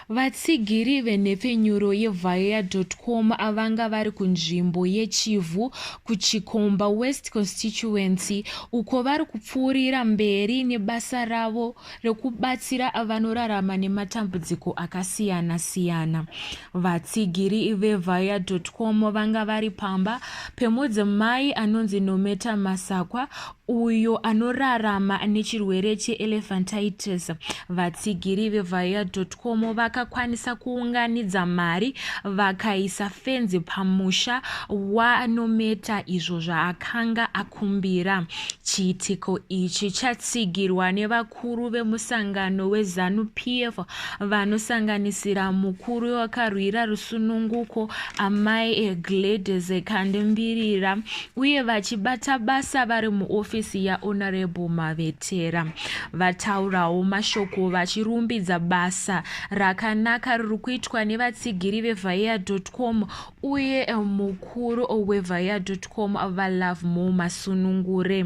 vatsigiri venhepfenyuro yevhaea.com avanga vari kunzvimbo yechivhu kuchikomba west constituency uko vari kupfuurira mberi nebasa ravo rekubatsira vanorarama nematambudziko akasiyana-siyana. Vatsigiri veVaya.com vanga vari pamba pemudzimai anonzi Nometa Masakwa uyo anorarama nechirwere cheelephantitis. Vatsigiri veVaya.com vakakwanisa kuunganidza mari vakaisa fenzi pamusha waNometa izvo zvaakanga akwanisa kukumbira. Chiitiko ichi chatsigirwa nevakuru vemusangano weZanu PF vanosanganisira mukuru wakarwira rusununguko Amai Gladys Kandembirira uye vachibata basa vari muofisi yaHonorable Mavetera. Vataurawo mashoko vachirumbidza basa rakanaka riri kuitwa nevatsigiri veVaea.com uye eh, mukuru wevaya.com valove mo masunungure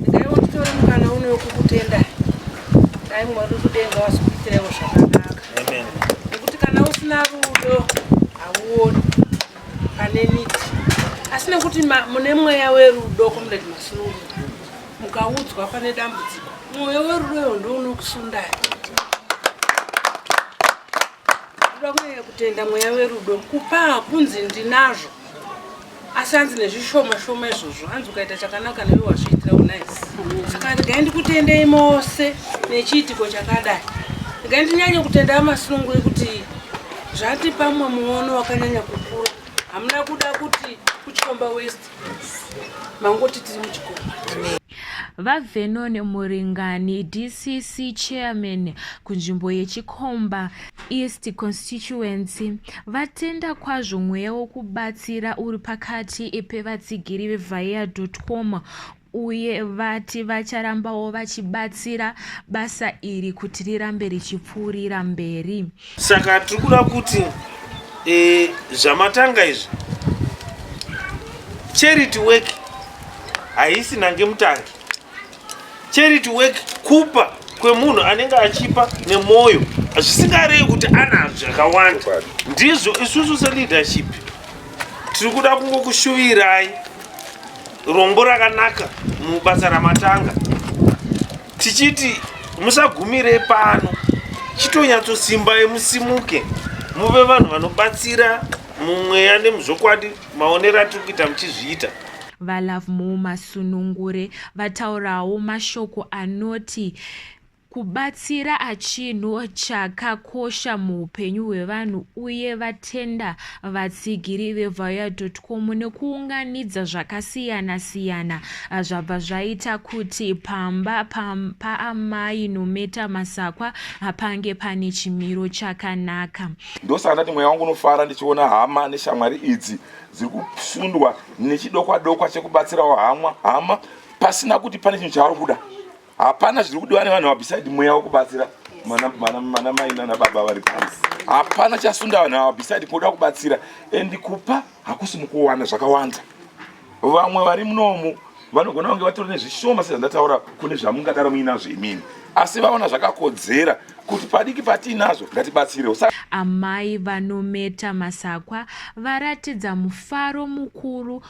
ndaiwotore mukana uno wekukutenda dai mwari kudenga wasikuitirewo zvakanaka nekuti kana usina rudo hauoni pane miti asi nekuti mune mweya werudo komrade masunungu mukaudzwa pane dambudziko mwoyo werudo yo ndounokusundai Kuda kunyanya kutenda mweya werudo kupa hakunzi ndinazvo asi hanzi nezvishoma shoma izvozvo hanzi ukaita chakanaka newe wazviitira unice saka regai ndikutendei mose nechiitiko chakadai regai ndinyanye kutenda amasununguri kuti zvati pamwe muono wakanyanya kukura hamuna kuda kuti kuchikomba west mangoti tiri muchikomba VaVernon Muringani, DCC Chairman kunzvimbo yeChikomba East Constituency, vatenda kwazvo mweya wokubatsira uri pakati pevatsigiri veVaea.com uye vati vacharambawo vachibatsira basa iri kuti rirambe richipfuurira mberi. saka tiri kuda kuti e, zvamatanga izvi charity work haisi nange mutangi charity work kupa kwemunhu anenge achipa nemwoyo zvisingarevi kuti anazvo zvakawanda ndizvo isusu seleadership tiri kuda kungokushuvirai rombo rakanaka mubasa ramatanga tichiti musagumire pano chitonyatsosimbai musimuke muve vanhu vanobatsira mumweya nemuzvokwadi maonero atiri kuita muchizviita valovemore masunungure vataurawo mashoko anoti kubatsira achinhu chakakosha muupenyu hwevanhu uye vatenda vatsigiri vevayaut makomo nekuunganidza zvakasiyana siyana ah, zvabva zvaita kuti pamba paamai pa Nometa Masakwa ah, pange pane chimiro chakanaka. Ndosaka ndati mweya wangu unofara ndichiona hama neshamwari idzi dziri kusundwa nechidokwa dokwa chekubatsirawo hama hama pasina kuti pane chinhu chavari kuda. hapana zviri kudiwa nevanhu ava beside mweya wekubatsira mana mai nana baba vari pano hapana chasunda vanhu ava beside kuda kubatsira and kupa hakusi mukuwana zvakawanda vamwe vari munomu vanogona kunge vatori nezvishoma sezvandataura kune zvamungadaro muinazvo imini asi vaona zvakakodzera kuti padiki patiinazvo ngatibatsirewo amai vanometa masakwa varatidza mufaro mukuru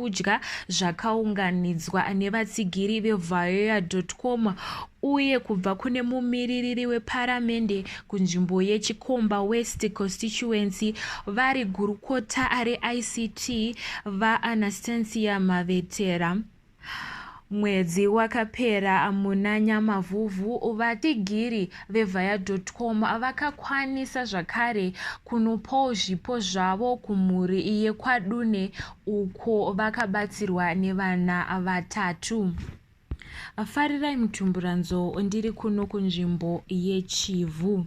kudya zvakaunganidzwa nevatsigiri vevayoya.com uye kubva kune mumiririri weparamende kunzvimbo yechikomba west constituency vari gurukota reict vaanastancia mavetera mwedzi wakapera muna nyamavhuvhu vatigiri vevaya.com vakakwanisa zvakare kunopawo zvipo zvavo kumhuri yekwadune uko vakabatsirwa nevana vatatu. Farirai Mutumburanzo ndiri kuno kunzvimbo yeChivhu.